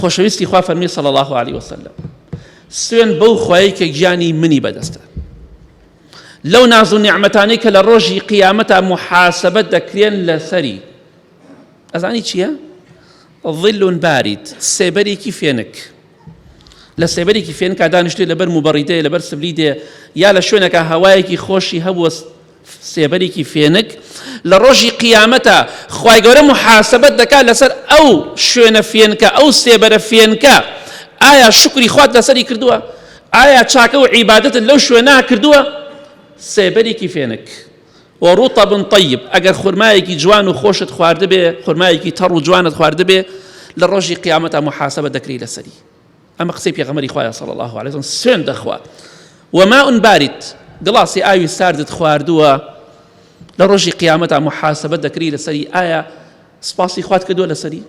خۆشەویستی خوا فەرمی صلی الله علیه وسلم سوێن بەو خوای کە گیانی منی بەدەستە لەو ناز و نیعممەتانی کە لە ڕۆژی قیامەتا محاسبەت دەکرێن لەسەری ئەزانی چییە؟ ظلون بارید سێبەرێکی فێنک لە سێبەرێکی فێنکا دانیشتێ لەبەر موبەڕیدەیە لەبەر سبلیدێ یا لە شوێنەکە هەوایەکی خۆشی هەبووە سێبەرێکی فێنک لە ڕۆژی قیامەتا خوای گەورە محاسبەت دەکات لەسەر ئەو شوێنە فێنکە ئەو سێبەرە فێنکە ئایا شکری خوات لەسەری کردووە ئایا چاکە و عیبادەتت لەو شوێنا کردووە سێبەرێکی فێنک و ڕوتە بن طیب ئەگەر خورمایەکی جوان و خۆشت خواردبێ خورمایەکی تەڕ و جوانت خواردبێ لە ڕۆژی قیامەتە محاسبە دەکری لەسەری ئەمە قسەی پێغەمەری خوایە صلی الله علیه وسلم سوێن دەخوا وماء بارد گڵاسی ئاوی ساردت خواردووە لە ڕۆژی قیامەتا محاسبە دەکری لەسەری ئایا سپاسی خوات کردووە لەسەری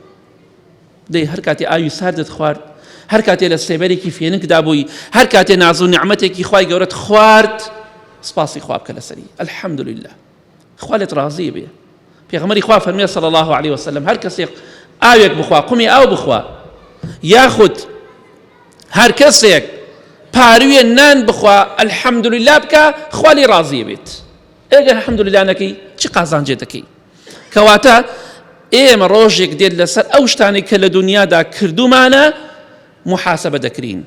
دەی هەر کاتی ئاوی ساردت خوارد هەر کاتێ لە سێبەرێکی فێنکدا بووی هەر کاتێ ناز و نعممەتێکی خی گەورەت خوارد سپاسی خواب کە لەسەری الحمد لله خوا لێت ڕازی بێ پێغەمەری خوا فەرمێ صلی الله علیه وسلم هەر کەسێک ئاوێک بخوا قومی ئاو بخوا یاخود هەر کەسێک پاروێ نان بخوا الحەمدللا بکە خوالی ڕازی بێت ئێگە حەمدللانەکەی چ قازانجێ دەکەی کەواتە ئێمە ڕۆژێک دێت لەسەر ئەو شتانی کە لە دنیادا کردومانە محاسبە دەکرین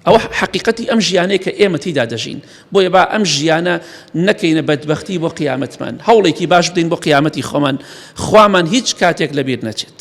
ئەوە حەقیقەتی ئەم ژیانەیە کە ئێمە تیدا دەژین بۆیە با ئەم ژیانە نەکەینە بەدبختی بۆ قیامەتمان هەوڵێکی باش بدەین بۆ قیامەتی خۆمان خوامان هیچ کاتێک لەبیر نەچێت